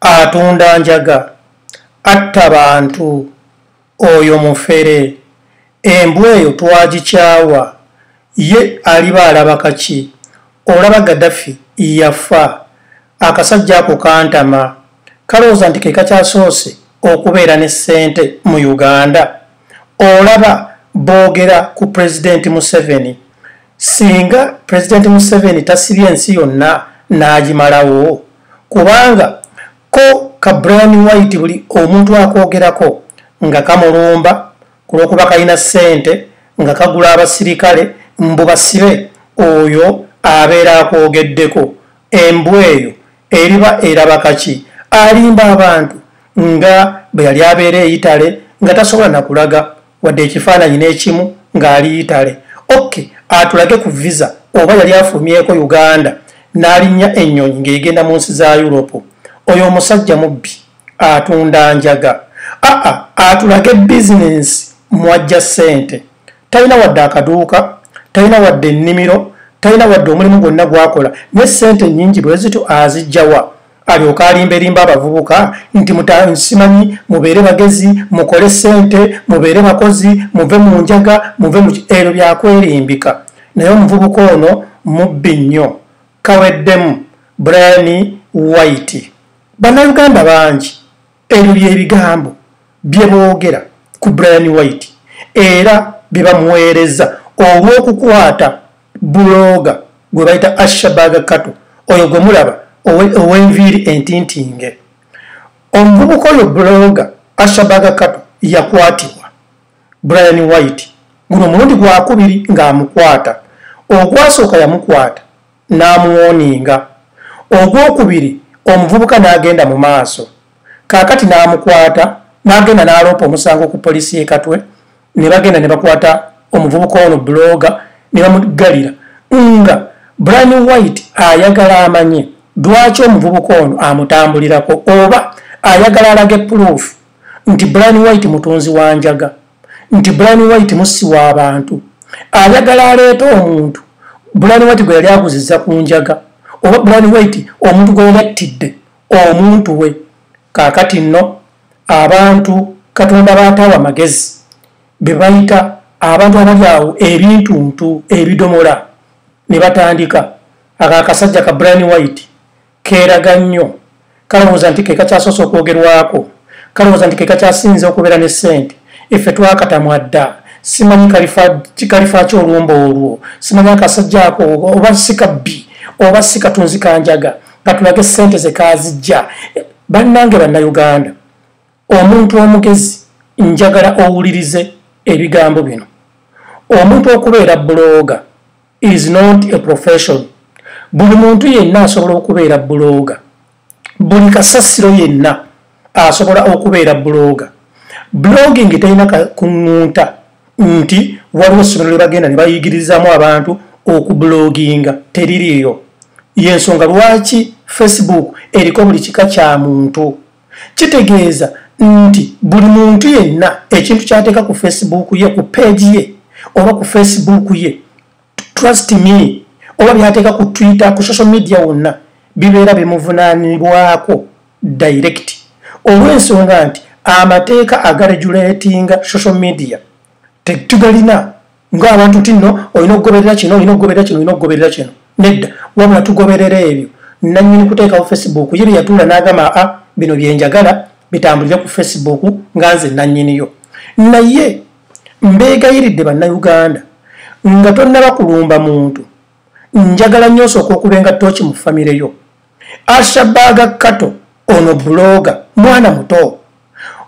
atunda njaga atta bantu oyo mufere embwa eyo twagikyawa ye aliba alaba kaki olaba gadafi yafa akasajja ako kantama kalowooza nti kekakyasoose okubeera ne ssente mu uganda olaba boogera ku pulezidenti museveni singa pulezidenti museveni tasibye ensi yonna n'agimalawo kubanga ko ka brian white buli omuntu akwogerako nga kamulumba ku lw'okuba kalina ssente nga kagula abasirikale mbu basibe oyo abeera akwogeddeko embwa eyo eriba eraba kaki alimba abantu nga bwe yali abeera eyitale nga tasobola nakulaga wadde ekifaananyi n'ekimu ng'ali itale oke atulage ku visa oba yali afulumyeko uganda n'alinnya ennyonyi ng'egenda mu nsi za yuropu oyo omusajja mubbi atunda njaga aa atulage bizinensi mwajja ssente talina wadde akaduuka talina wadde ennimiro talina wadde omulimu gwonna gwakola ne ssente nnyingi bwe zityo azijjawa alyoka alimberimba abavubuka nti mutasimanyi mubeere bagezi mukole sente mubeere bakozi muve mu njaga muve mu ebyo byakwerimbika naye omuvubuka ono mubbi nnyo kaweddemu brian white bannayuganda bangi ebyo byebigambo bye boogera ku brian white era bye bamuweereza olw'okukwata bulooga gwe bayita ashabaga kato oyo gwe mulaba ow'enviiri entintinge omuvubuka oyo bulooga ashabaga kato yakwatibwa brian white guno omulundi gwakubiri ng'amukwata ogwasooka yamukwata n'amuwoninga ogwokubiri omuvubuka n'agenda mu maaso kaakati n'amukwata n'agenda n'aloopa omusango ku poliisi y'ekatwe ne bagenda ne bakwata omuvubuka ono buloga ne bamuggalira nga brian white ayagala amanye lwaki omuvubuka ono amutambulirako oba ayagala alage puloofu nti brian white mutunzi wa njaga nti brian white mussi w'abantu ayagala aleeta omuntu brian white gwe yali aguziza ku njaga oba brian white omuntu gwe yali attidde omuntu we kaakati nno abantu katonda baataawa magezi be bayita abantu abali awo ebintuntu ebidomola ne batandika ako akasajja ka brian white keeraga nnyo kalowooza nti kekakyasoose okwogerwako kalowooza nti kekakyasinze okubeera ne ssente effe twakatamwa dda simanyi kalifa ki olumba olwo simanyi akasajja ako oba sikabbi oba sikatunzi kanjaga katulage ssente ze kaazijja bannange bannayuganda omuntu omugezi njagala owulirize ebigambo bino omuntu okubeera bulooga is not a profession buli muntu yenna asobola okubeera bulooga buli kasasiro yenna asobola okubeera bulooga blogging terina kuŋŋunta nti waliwo essomero lyebagenda nebayigirizamu abantu okubuloginga teririyo yensonga lwaki facebook eriko buli kika kya muntu kitegeeza nti buli muntu yenna ekintu kyateeka ku facebook ye ku peegi ye oba ku facebook ye trust me oba byateeka ku twitter ku social media wonna bibeera bimuvunaanibwako direct olw'ensonga nti amateeka agaregulatinga social media tetugalina ngaabantu ti no olina okugoberera kino olina okugoberera kino olina okugoberera kino nedda wabula tugoberera ebyo nanyini kuteekawo facebook ye byeyatuula n'agamba a ah, bino byenjagala bitambulire ku facebook nga nze nanyiniyo naye mbeegayiridde bannayuganda nga tonnaba kulumba muntu njagala nnyo osooka okubenga tooki mu famire yo ashabaaga kato ono buloga mwana muto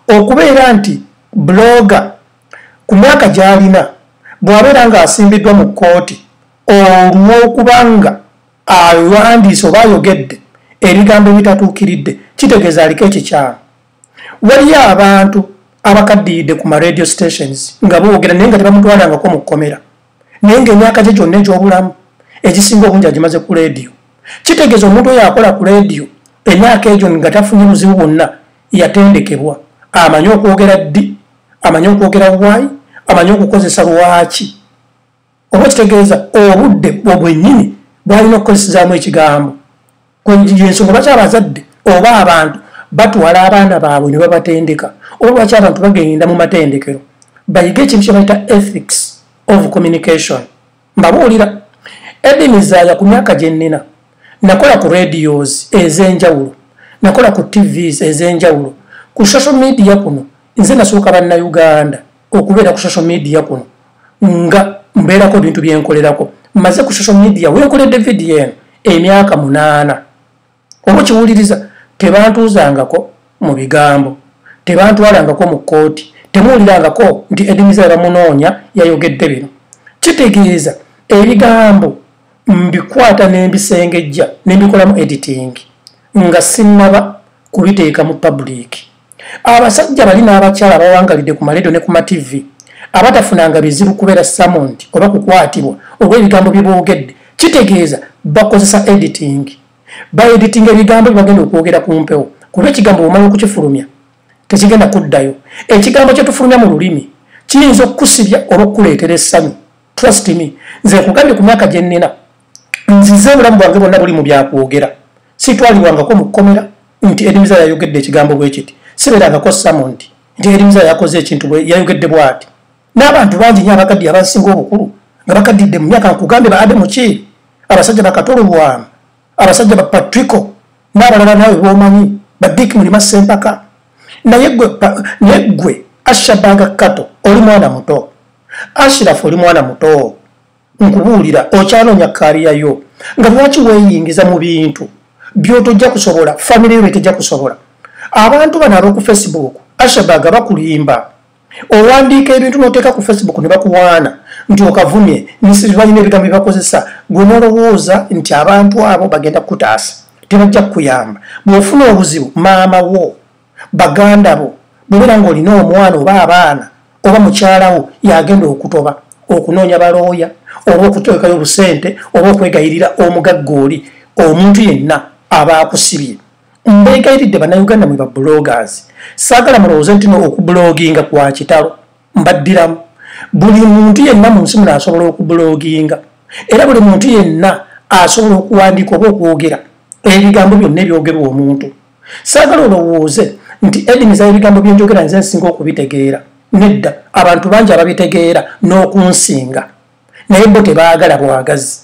okubeera nti buloga ku myaka gy'alina bw'abeera ng'asimbiddwa mu kkooti olw'okuba nga awandiise oba ayogedde ebigambo ebitatuukiridde kitegeeza aliko ekikyamu waliyo abantu abakaddiyidde ku maradio stations nga boogera naye nga tebamutwalangako mu kkomera naye ngaemyaka gye gyonna egy'obulamu egisinga obungi agimaze ku leediyo kitegeeza omuntu oyo akola ku leediyo emyaka egyo nga tafunye muzibu bwonna yatendekebwa amanyi okwogera ddi amanyi okwogera wayi amanyi okukozesa lwaki oba kitegeeza obudde bwo bwennyini bwalina okukozesezaamu ekigambo yensonga lwaki abazadde oba abantu batwala abaana baabwe ne babatendeka oba lwaki abantu bagenda mu matendekero bayige ekintu kyebayita ethics of communication mbabuulira edimizaaya ku myaka gye nnina nakola ku radios ez'enjawulo nakola ku tvs ez'enjawulo ku social media kuno nze nasooka bannauganda okubeera ku social media kuno nga mbeerako ebintu byenkolerako mmaze ku social media wenkoledde vidiyo eno emyaka munaana oba okiwuliriza tebantuuzangako mu bigambo tebantwalangako mu kkooti temuwulirangako nti edimiza yabamunoonya yayogedde bino kitegeeza ebigambo mbikwata nembisengejja nembikolamu editing nga sinnaba kubiteeka mu publiki abasajja bali n'abakyala abawangalidde ku maledo ne ku mativi abatafunanga bizibu kubeera samondi oba kukwatibwa oba ebigambo bye boogedde kitegeeza bakozesa editing baediting ebigambo byebagenda okwogera ku mpewo kuba ekigambo bwomala okukifulumya tekigenda kuddayo ekigambo kyetufulumya mu lulimi kiyinza okukusibya oba okukuleetera essanyu trust me nze nkugambye ku myaka gye nnina nzize obulamu bwange bonna buli mu byakwogera sitwalibwangako mu kkomera nti edimiza yayogedde ekigambo bwe kiti sibeerangako samondi nti edimiza yakoze ekintu yayogedde bwati n'abantu bangi nyo abakaddiye abasinga obukulu nga bakaddidde mu myaka nkugambe baade muki abasajja bakatolubwamu abasajja bapatrico n'abalala naawe bwomanyi badick mulima sempaka naye gwe ashabanga kato oli mwana muto ashirafu oli mwana muto nkubuulira okyanoonya kaaliya yo nga lwaki weeyingiza mu bintu byotojja kusobola famire yo byetejja kusobola abantu bano ab'oku facebook ashabaga bakulimba owandiika ebintu noteeka ku facebook ne bakuwaana nti okavumye balina ebigambo byebakozesa gwe nolowooza nti abantu abo bagenda kukutaasa tebajja kukuyamba bw'ofuna obuzibu maama wo baganda bo bwebera nga olina omwana oba abaana oba mukyalawo yagenda okutoba okunoonya balooya oba okutekayo obusente oba okwegayirira omugagga oli omuntu yenna aba akusibye mbegayiridde banauganda mwe bablogers saagala mulowooze ntino okubloginga kwa kitalo mbaddiramu buli muntu yenna mu nsi muno asobola okubloginga era buli muntu yenna asobola okuwandiika oba okwogera ebigambo byonna ebyogerwa omuntu saagala olowooze nti edimiza ebigambo byenjogera nze nsinga okubitegeera nedda abantu bangi ababitegeera n'okunsinga naye bo tebaagala bwagazi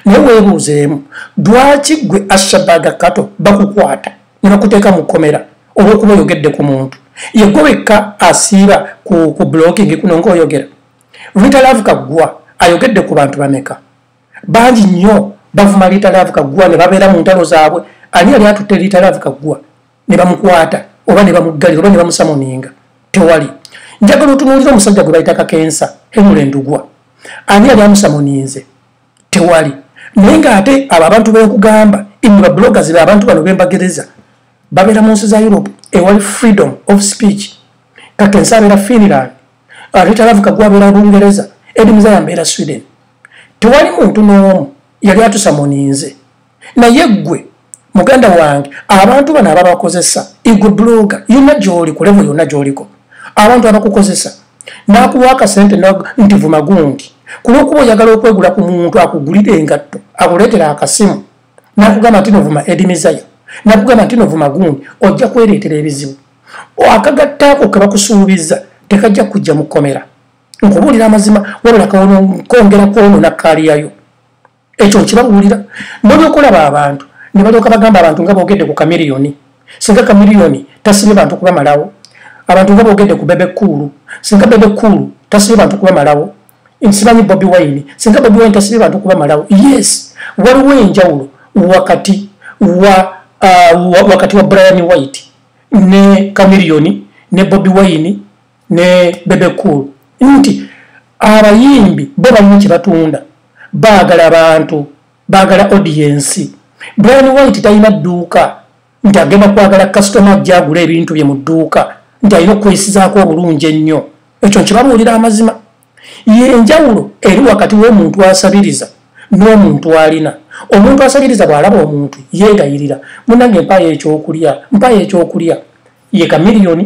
naye weebuuzeemu lwaki gwe ashabaga kato bakukwata ne bakuteeka mu kkomera olw'okuba oyogedde ku muntu yegwe wekka asiiba ku blokingi kuno ngaoyogera rita love kaggwa ayogedde ku bantu bameka bangi nnyo bavuma liita laavu kaggwa ne babeera mu ntalo zaabwe ani yali atutte liita laavu kaggwa ne bamukwata oba ne bamuggalira oba ne bamusamuninga tewali njagala otunuulira omusajja gwe bayita kakensa henule ndugwa ani yali amusamuninze tewali naye ng'ate abo abantu benkugamba imwe babuloga zibe abantu bano bembagereza babeera mu nsi za europe ewali freedom of speech kakensa abeera finland alitalavuka gwabeera bungereza edimuzayambeera sweden tewali muntu n'omu yali atusamuninze naye ggwe muganda wange abantu bano ababakozesa igwe bloga yonna gyoli ku levo yonna gyoliko abantu abakukozesa n'akuwa akasente nti vuma gundi ku lwokuba oyagala okwegula ku muntu akugulire engatto akuleetera akasimu n'akugamba nti novuma edimizaya nakugamba nti no vumagundi ojja kwereetera ebizibu akagattaako kebakusuubiza tekajja kujja mukomera nkubuulira amazima wabula kawono nkongera kwonona kaaliyayo ekyo nkibabuulira nolyokulaba abantu ne balyoka bagamba abantu nga boogedde ku kamiriyoni singa kamiriyoni tasibye bantu kubamalawo abantu nga boogedde ku bebe kuulu singa bebe kuulu tasibye bantu kubamalawo nsimanyi bobi wine singa bobi wine tasibye bantu kubamalawo yes waliwo enjawulo wakati wa uh, wakati wa brian white ne kamiriyoni ne bobi wine ne bebe cool nti abayimbi bo balina kye batunda baagala bantu baagala odiyensi brian white talina dduuka nti agenda kwagala kasitoma ajja agula ebintu bye mu dduuka nti alina okweyisizaako obulungi ennyo ekyo nkibabuulira amazima yenjawulo eri wakati w'omuntu asabiriza n'omuntu alina omuntu asabiriza bw'alaba omuntu yeegayirira munange mpaayo ekyokulya mpaayo ekyokulya ye kamiliyoni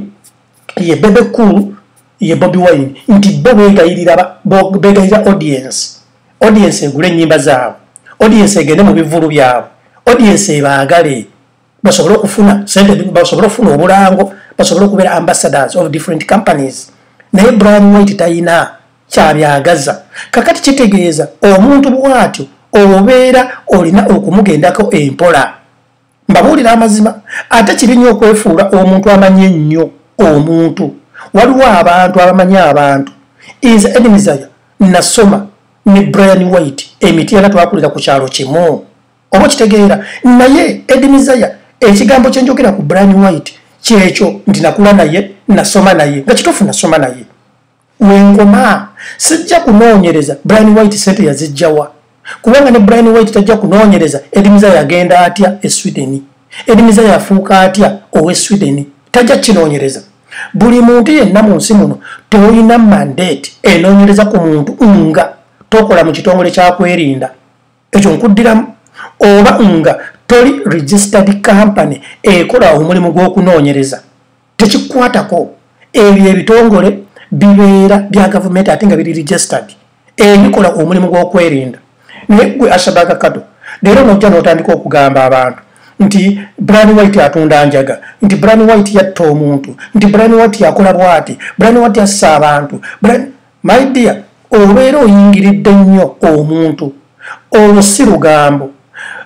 ye bebe cool ye bobi wine nti bo begayirira begayirira audience audience egule enyimba zaabwe audience egende mu bivulu byabwe audience ebaagale basobole okufuna sente basobole okufuna obulango basobole okubeera ambassadors of different companies naye brian white tayina kyabyagaza kakati kitegeeza omuntu bwatyo obeera olina okumugendako empola mbabuulira amazima ate kibi nnyo okwefuula omuntu amanyi ennyo omuntu waliwo abantu abamanyi abantu nze edimizaya nasoma ne brian white emiti era twakulira ku kyalo kimu oba okitegeera naye edimizaya ekigambo kye njogera ku brian white kyekyo nti nakula naye nasoma naye nga kituufu nasoma naye wenkoma sijja kunoonyereza brian white sente yazijjawa kubanga ne brian white tajja kunoonyereza edimiza yagenda atya e sweden edimiza yafuuka atya owe sweden tajja kinoonyereza buli muntu yenna mu nsi muno tolina mandate enoonyereza ku muntu nga tokola mu kitongole kyakwerinda ekyo nkuddiramu oba nga toli registered company ekola omulimu gw'okunoonyereza tekikwatako ebyo ebitongole bibeera bya gavumenti ate nga biri registered ebikola omulimu gw'okwerinda naye gwe ashabaga kado leero nojja n'otandika okugamba abantu nti bran white atunda njaga nti bran white yatta omuntu nti bran white yakola bwati bran white yassa abantu my dear obeera oyingiridde nnyo omuntu olwo si lugambo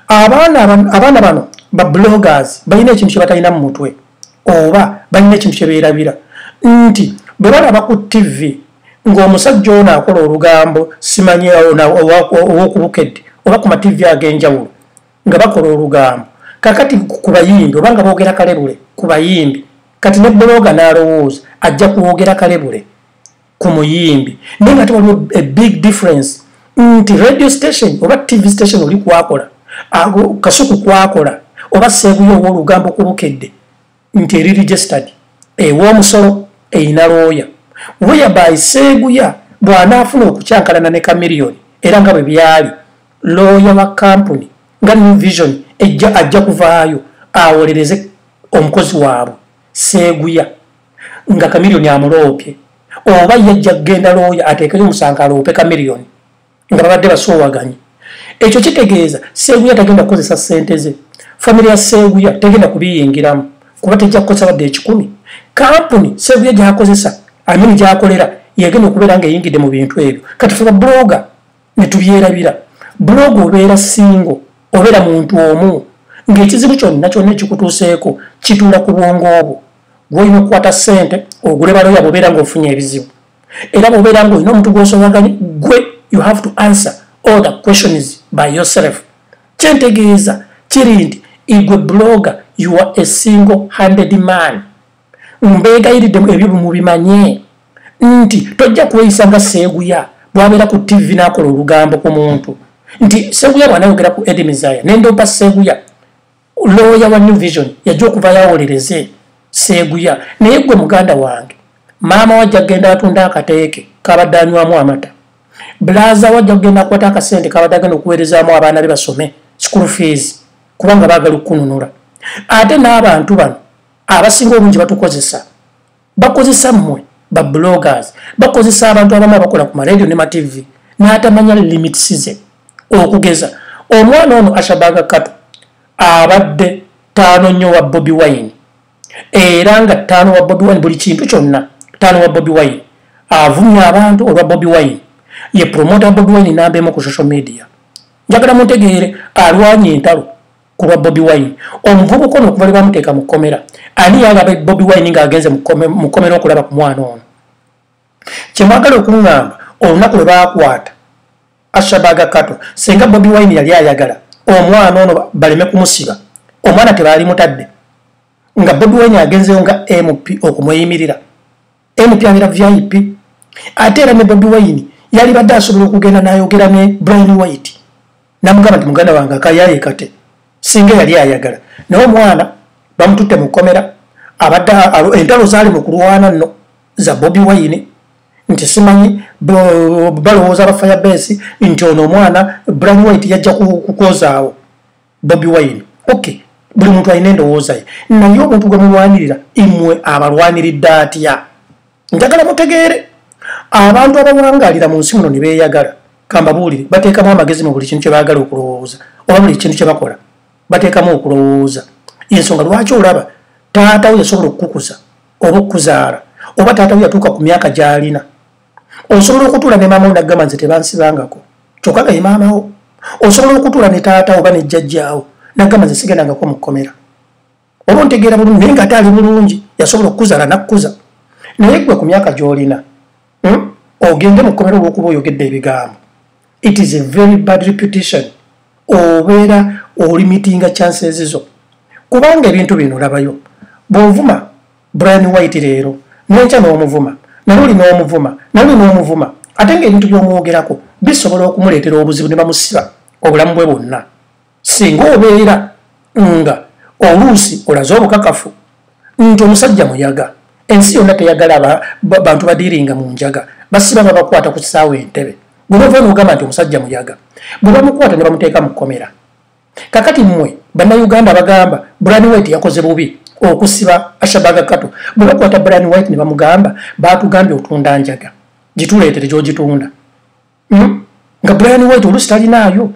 abaana bano ba bloggers balina ekintu kye batalina mu mutwe oba balina ekintu kye beerabira nti bwe balaba ku ttivi ng'omusajja ono akola olugambo simanyi ow'okubukedde oba ku mativi ag'enjawulo nga bakola olugambo kakati ku bayimbi oba nga boogera kalebule ku bayimbi kati ne bbulooga n'alowooza ajja kwogera kalebule ku muyimbi naye nga tewaliwo a big difference nti radio station oba tv station oli kwakola kasuku kwakola oba seeguyo owa olugambo ku bukedde nti eri registered ew'omusolo eyina looya weyabayi seeguya bw'anaafuna okukyankalana ne kamiliyoni era nga bwe byali looya wa kampuni nga new vision ejja ajja kuvaayo awolereze omukozi waabwe seeguya nga kamiliyoni amuloopye oba yajja kugenda looya ateekeyo omusango aloope kamiliyoni nga babadde basoowaganye ekyo kitegeeza seeguya tagenda kukozesa sente ze famiry ya seeguya tegenda kubiyingiramu kuba tejja kukozesa badde ekikumi kampuni seeguya gyakozesa amini gyakolera yegenda okubeera nga eyingidde mu bintu ebyo kati fe babuloga netubyerabira buloga obeera singo obeera muntu omu ng'ekizibu kyonna kyonna ekikutuuseeko kituula ku bwongo obwo gwolina okukwata ssente ogule baloya bwobeera ng'ofunye ebizibu era bwobeera ng'olina omuntu gw'osowaganye gwe you have to answer all the questions by yourself kyentegeeza kiri nti igwe bloga you are a single handed man mbeegayiridde ebyo bumubimanye nti tojja kweyisa nga seeguya bwabeera ku tv n'akola olugambo ku muntu nti seeguya bwanayogera ku edi mizaya nendompa seeguya looya wa new vision yajja okuva yawolereze seeguya naye gwe muganda wange maama wajja kugenda atunda akateeke kabadde anywamu amata bulaza wajja kugenda akwata akasente kabadde agenda okuweerezaamu abaana be basome school fees kubanga baagala okukununula ate n'abantu bano abasinga obungi batukozesa bakozesa mmwe ba bloggers bakozesa abantu abamu abakola ku maradio ne matv n'atamanya limits ze okugeza omwana ono ashabaga kato abadde taano nnyo wa bobi wine era nga taano wa bobi wine buli kintu kyonna taano wa bobi wine avumya abantu olwa bobi wine ye promota bobi wine nambeemu ku social media njagala muntegeere alwanya entalo ku lwa bobi wine omuvubuka ono okuva lwebamuteeka mu kkomera ani yalaba bobi wine ng'agenze mu kkomera okulaba ku mwana ono kyemwagala okuŋŋamba olunaku lwe baakwata ashabaga kato singa bobi wine yali ayagala omwana ono baleme kumusiba omwana tebaali mutadde nga bobi wine agenzeyo nga mp okumweyimirira MP abera VIP ate era ne Bobi Wine yali badde asobola okugenda n'ayogera ne Brian White namugamba nti muganda wange akayaye kate singa yali ayagala naye omwana bamututte mu kkomera abadde entalo zaali mu kulwana nno za Bobi Wine nti simanyi balowooza ba fire base nti ono omwana Brian White yajja kukozaawo bobi wine okay buli muntu alina endowooza ye naye omuntu gwe mulwanirira imwe abalwaniridde atya njagala mutegeere abantu abawangalira mu nsi muno ne beeyagala kambabuulire bateekamu amagezi mu buli kintu kye baagala okulowooza oba buli kintu kye bakola bateekamu okulowooza ensonga lwaki olaba taatawo yasobola okukukuza oba okukuzaala oba taatawo yatuuka ku myaka gy'alina osobola okutuula ne maama wo naggamba nze tebansibangako kyokka nga ye maama wo osobola okutuula ne taata oba ne jjajjaawo naggamba nze sigendangako mu kkomera oba ontegeera bulungi naye nga ate ali bulungi yasobola okukuzala nakkuza naye gwe ku myaka gy'olina hmm? ogende mu kkomera olwokuba oyogedde ebigambo it is a very bad reputation obeera olimitinga chances zo kubanga ebintu bino olabayo bwovuma brian white leero nenkya n'omuvuma naluli n'omuvuma naluli n'omuvuma ate ng'ebintu by'omwogerako bisobola okumuleetera obuzibu ne bamusiba obulamu bwe bwonna singa obeera nga oluusi olaze obukakafu nti omusajja muyaga ensi yonna teyagala bantu badiiringa mu njaga basiba babakwata ku kisaawa entebe gwe bava noogamba nti omusajja muyaga bwe bamukwata ne bamuteeka mu kkomera kakati mwe bannayuganda bagamba brani white yakoze bubi okusiba ashabaga kato bwe bakwata brani white ne bamugamba baatugambye otunda njaga gituleetere gyogitunda hmm? nga brani white olusi talinaayo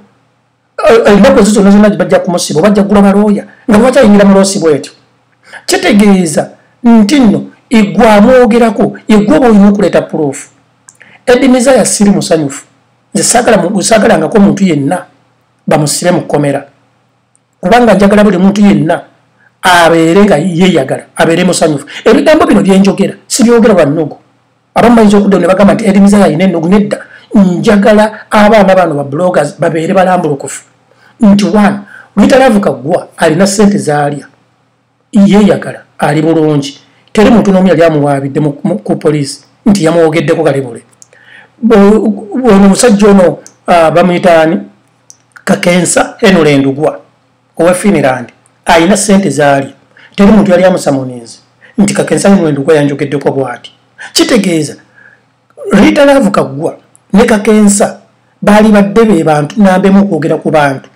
eh, enaku ezo zonna zonna bajja kumusiba obajja kugula balooya nga bwebakyayingira muloosi bwetyo kitegeeza nti nno egwamwogerako egwa oba olina okuleeta puloofu edimiza yasiri musanyufu nze saagalangako omuntu yenna bamusibe mu kkomera kubanga njagala buli muntu yenna abeere nga yeyagala abeere musanyufu ebigambo bino byenjogera sibyogera bannugu abamu bayinza okuddamu ne bagamba nti erimiza yalina ennugu nedda njagala abaana bano ba bloggers babeere balambulukufu nti one luyitalavuka ggwa alina ssente zaalya yeyagala ali bulungi teri muntu nomu yali amuwaabidde ku poliisi nti yamwogeddeko kalibule ono omusajja ono uh, bamuyitaani kakensa henule ndugwa owa finland alina sente zaali teri muntu yali amusamuninzi nti kakensa henule ndugwa yanjogeddeko bwati kitegeeza rita laavu kaggwa ne kakensa baali badde be bantu nambemu okwogera ku bantu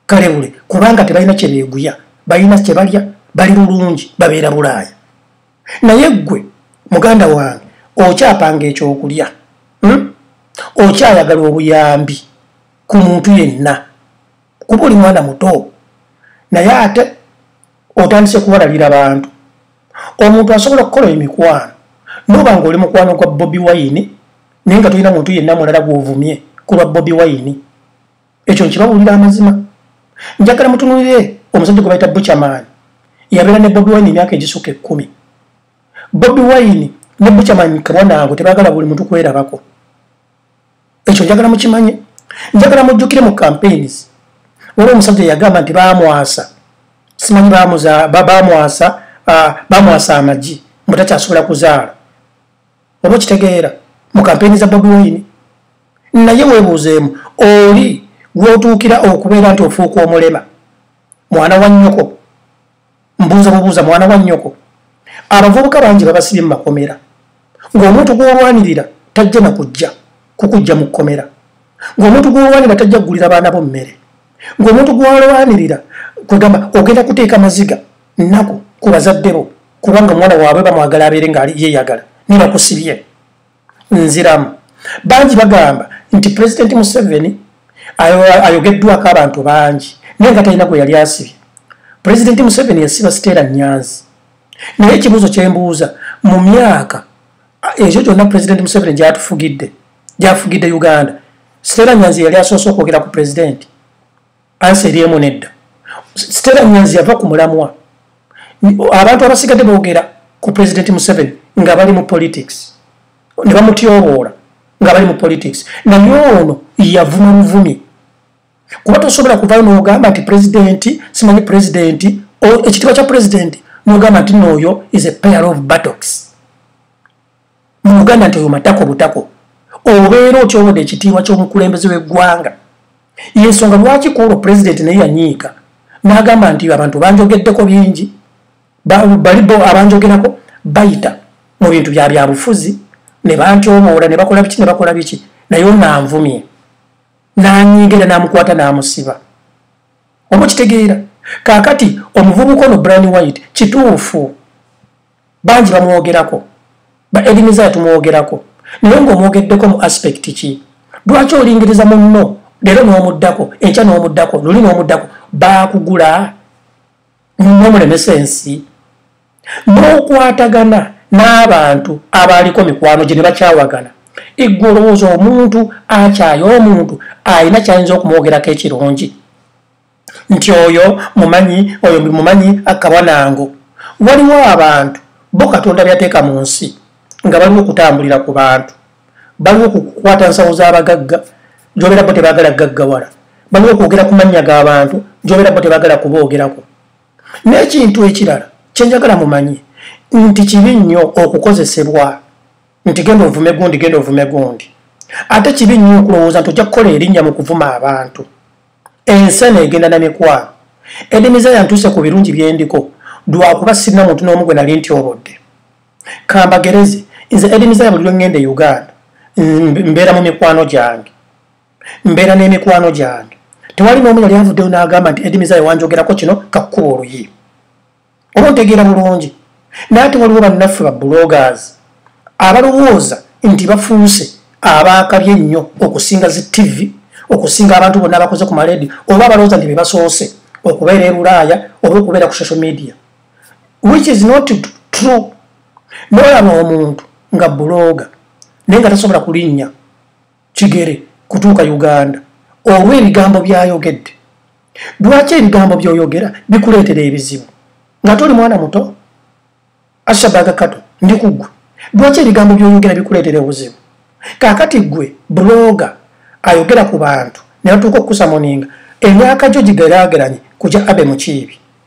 kalewule kubanga tebalina kyebeeguya balina kyebalya bali bulungi babeera bulaaya naye ggwe muganda wange okyapanga ekyokulya hmm? okyayagala obuyambi ku muntu yenna kuba oli mwana muto naye ate otandise kuwalalira bantu omuntu asobola okukola emikwano noba nga oli mukwano gwa bobi wayini naye nga tulina muntu yenna mulala gwovumye kulwa bobi wayini ekyo nkibawulira amazima njagala mutunulire omusajja gwe bayita buchamani yabeera ne bobi wine emyaka egisuka ekkumi bobi wine ne buchamani kabwanaabwe tebagala buli muntu kwerabako ekyo njagala mukimanye njagala mujjukire mu campaigns waliwo omusajja yagamba nti bamwasa simanyi bamwasa bamwasa amagi mbu takyasobola kuzaala oba okitegeera mu kampeyini za bobi wine naye webuuzeemu oli lwotuukira okubeera nti ofuuka omulema mwana wa nnyoko mbuuza bubuuza mwana wa nnyoko abavubuka bangi babasibye mu makomera ng'omuntu gw'olwanirira tajja na kujja kukujja mu kkomera ng'omuntu gw'olwanira tajja kugulira baana bo mmere ng'omuntu gw'alwanirira kwegamba ogenda kuteeka maziga nnaku ku bazadde bo kubanga omwana waabwe bamwagala abeere nga yeeyagala ne bakusibye nziramu bangi bagamba nti pulezidenti museveni ayogeddwako abantu bangi naye nga talina gwe yali asibye pulezidenti museveni yasiba siteera nyanzi naye ekibuuzo kyembuuza mu myaka ekyo kyonna pulezidenti museveni gyatufugidde gyafugidde uganda sitera nyanzi yali asoose okwogera ku pulezidenti ansi eri emu nedda sitera nyanzi yava ku mulamwa abantu abasigadde boogera ku pulezidenti museveni nga bali mu politics ne bamutyoboola nga bali mu politics naye ono yavuma muvumi kuba tosobola kuvayo nogamba nti pulezidenti simanyi pulezidenti ekitiibwa kya pulezidenti nogamba nti nooyo is a pair of battocks mu uganda nti oyo matako butako obeera otyowode ekitiibwa ky'omukulembeze w'eggwanga yensonga lwaki kuolwo pulezidenti naye yanyiika n'agamba nti abantu banjogeddeko bingi bali bo abanjogerako bayita mu bintu bya byabufuzi ne bantyoboola ne bakola biki ne bakola biki naye onanvumye n'anyiiga era n'amukwata n'amusiba oba okitegeera kaakati omuvubuka ono brani white kituufu bangi bamwogerako ba edimiza tumwogerako naye ngaomwogeddeko mu aspect ki lwaki olingiriza munno leero n'omuddako enkya n'omuddako luli n'omuddako baakugula nomulemesa ensi n'okwatagana n'abantu abaaliko mikwano gye ne bakyawagana eggwe olowooza omuntu akyaye omuntu alina kyayinza okumwogerako ekirungi nti oyo mumanyi oyo mumanyi akabanango waliwo abantu bo katonda byateeka mu nsi nga baliwo okutambulira ku bantu baliwo okukwata nsawo z'abagagga gyobeera bo tebagala gaggawala baliwo okwogera ku mannya g'abantu gyobeera bo tebagala kuboogerako n'ekintu ekirala kyenjagala mumanyi nti kibi nnyo okukozesebwa nti genda ovume gundi genda ovume gundi ate kibi nnyo okulowooza nti ojja kukola erinnya mu kuvuma abantu ensi eno egenda na mikwano edimiza yantuuse ku birungi byendiko lwakuba sirina muntu n'omu gwe nali nti obodde kambagereze nze edimiza ya buli lwengenda e uganda mbeera mu mikwano gyange mbeera n'emikwano gyange tewali n'omu yali avuddeyo n'agamba nti edimiza yawanjogerako kino kakkuba oluyi oba ontegeera bulungi naye ate waliwo bannaffe ba bloggers abalowooza nti bafuuse abaakabye ennyo okusinga zi tivi okusinga abantu bonna abakoze ku maledi oba abalowooza nti bebasoose okubeera e bulaaya oba okubeera ku social media which is not true nolaba omuntu nga buloga naye nga tasobola kulinnya kigere kutuuka uganda olw'ebigambo byayogedde lwaki ebigambo byoyogera bikuleetera ebizibu nga toli mwana muto ashabaga kato ndi kuggwe lwaki ebigambo byoyogera bikuleetera obuzibu kakati ggwe bloga ayogera ku bantu neyatuuka okukusamoninga emyaka gyo gigeraageranye kugya abe mukiibi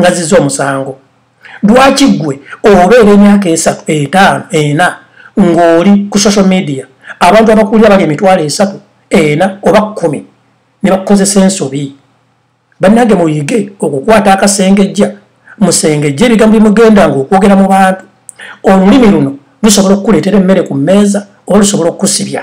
ngaziza omusango lwaki ggwe obeera emyaka esatu etaano ena ng'oli ku social media abantu abakuulira bali emitwalo esatu ena oba kkumi ne bakukozesa ensobi bannange muyige okukwata akasengejja musengejja ebigambo bimugenda ng'okwogera mu bantu olulimi luno lusobola okukuleetera emmere ku mmeeza oba lusobola okukusibya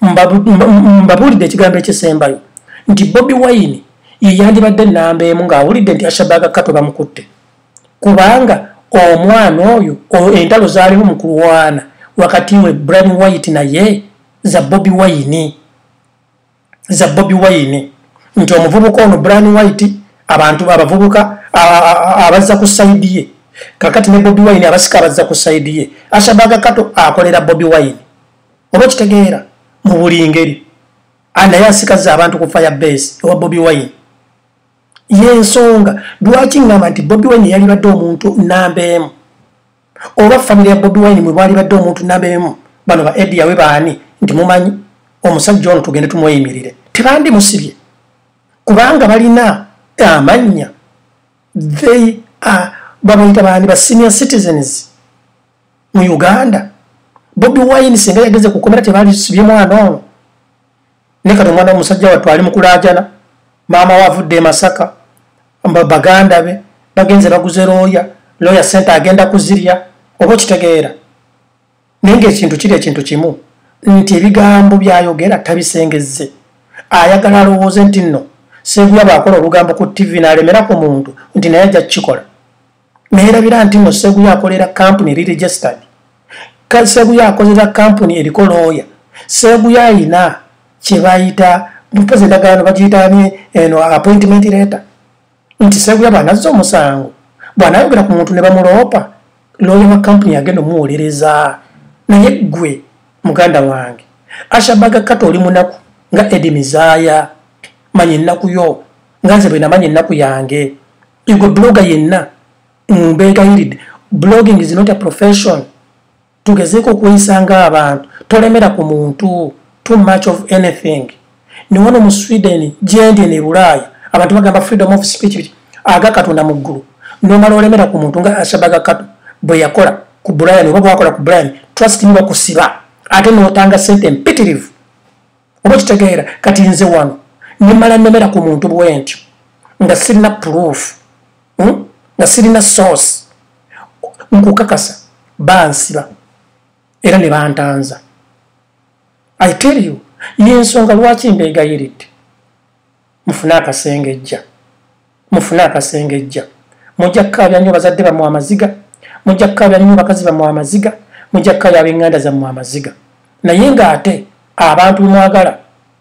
mbabuulidde ekigambo ekisembayo nti bobi wayini yeyandibadde namba emu ng'awulidde nti ashabaga kato bamukutte kubanga omwana oyo entalo zaaliwo mu kulwana wakati we bran white naye za bobi wayini za bobi wayini nti omuvubuka ono bran white abantu abavubuka abazza ku saidi ye kakati ne bobi wayini abasika abazza ku saidi ye ashabaga kato akolera bobi wayini oba kitegeera mu buli ngeri anaye asikaza abantu ku fire base ewa bobi wine yensonga lwaki ngamba nti bobi wine yalibadde omuntu namba emu oba famiry ya bobi wine mwebwalibadde omuntu namba emu bano ba edi yawe baani nti mumanyi omusajja ono tugende tumweyimirire tebandi musibye kubanga balina amannya they are babayita baani ba senior citizens mu uganda bobi wine singa yageze kukomera tebalisibye mwana ono nekati omwana womusajja wattu ali mukulajana maama we avudde emasaka baganda be bagenze baguze looya looya sente agenda kuzirya oba okitegeera naye ngaekintu kiri ekintu kimu nti ebigambo byayogera tabisengezze ayagala alowooze nti nno seguya bwakola olugambo ku ttivi naalemerako muntu nti naye ajja kukikola neerabira nti no seguya akolera kampuni eri registered seguya akolera kampuni eriko looya seguya ayina kyebayita mpozi endagaano bagiyitani eno appointment letter nti seguya bwanazza omusango bwanayogera ku muntu ne bamuloopa looya wa kampuni yagenda omuwolereza naye ggwe muganda wange ashabaga kata oli munaku nga edi mizaya manya ennaku yo nga nze bwe namanya ennaku yange egwe bloga yenna mbegayiridde mm, blogging is not a profession tugezeeko okweyisa nga abantu tolemera ku muntu too much of anything newano mu sweden gyendi ne bulaaya abantu bagamba freedom of speech aga katonda mu ggulu nomala olemera ku muntu nga ashabaga kato bwe yakola ku brian oba bwakola ku brian trust me bakusiba ate notanga sente mpitirivu oba okitegeera kati nze wano nemala nemera ku muntu bwentyo nga sirina proof hmm? nga sirina source nkukakasa bansiba era ne bantanza i tell you yensonga lwaki mbeegayiridde mufune akasengejja mufune akasengejja mujja kukaabya nnyo bazadde bamwe amaziga mujja kukaabya nnyo bakazi bamwe amaziga mujja kukaabya ab'enganda zammwe amaziga naye ng'ate abantu bemwagala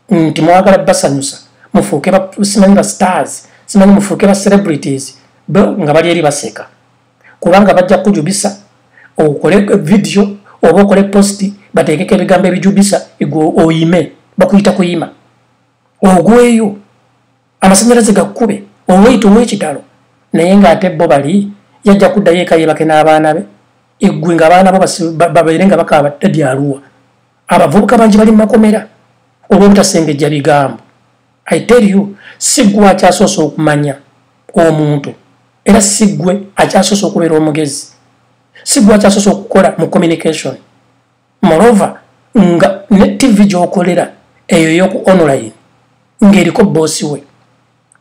nti mwagala basanyusa mufuuke simanyi ba stars simanyi mufuuke ba celebrities nga bali eri baseka kubanga bajja kujubisa okole vidiyo oba okole posti bateekeko ebigambo ebijubisa igwe oyime bakuyita kuyima ogweyo amasanyalaze gakube olwoyita omwekitalo naye nga ate bo bali yajja kuddayo eka yebake n'abaana be eggwe nga abaana bo babeere nga bakaaba tadi aluwa abavubuka bangi bali mumakomera olwobutasengejja bigambo i tell you siggwe akyasoose okumanya omuntu era siggwe akyasoose okubeera omugezi siggwe akyasoose okukola mu communication moreover nga ne tv gyokolera eyo yoku online ngaeriko bosi we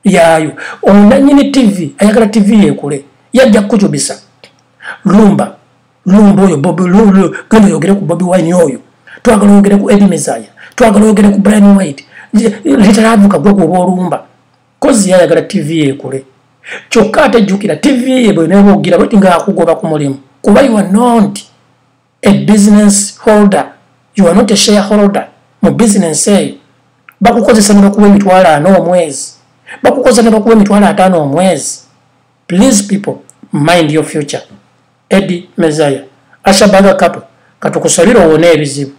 yaayo onanyini tv ayagala tv yekule yajja kukujubisa lumba lumba oyo bobi lulu genda oyogere ku bobi wine oyo twagala oyogere ku edi mezaya twagala oyogere ku brian white litaravuka gwe kuoba olumba kozi yayagala tv yekule kyokka ate jjukira tv ye bweneba ogira bweti nga akugoba ku mulimu kuba iwa nonti a business holder you are not a shareholder mu business eyo bakukozesa nebakuwa emitwalo ana omwezi bakukozesa nebakuwa emitwalo ataano omwezi please people mind your future edi mezaya ashabaga kapo katukusabira owone ebizibu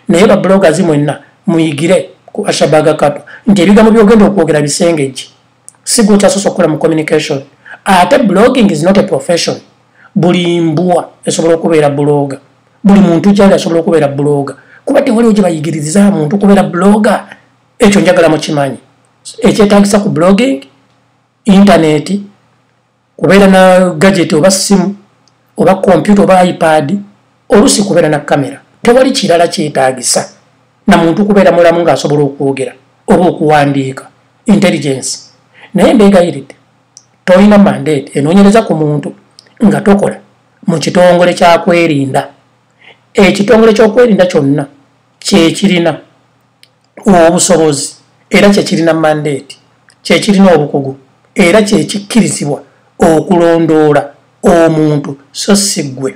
naye babulogazi mwenna muyigire ku ashabaga kapo nti ebigambo byogenda okwogera bisengejje sigwokyasose okukola mu communication ate blogging is not a profession buli mbwa esobola okubeera buloga buli muntu kyali asobola okubeera buloga kuba tewaliwo gye bayigiriza muntu kubeera buloga ekyo njagala mukimanyi ekyetagisa ku blogging intaneti kubeera na gadget oba simu oba kompyuta oba ipad olusi kubeera na kamera tewali kirala kyetagisa na muntu kubeera mulamu ng'asobola okwogera oba okuwandiika intelligence naye mbeegayiridde tolina mandate enoonyereza ku muntu nga tokola mu kitongole kyakwerinda ekitongole kyokwerinda kyonna kyekirina obusobozi era kyekirina mandeeti kyekirina obukugu era kyekikkirizibwa okulondoola omuntu so si ggwe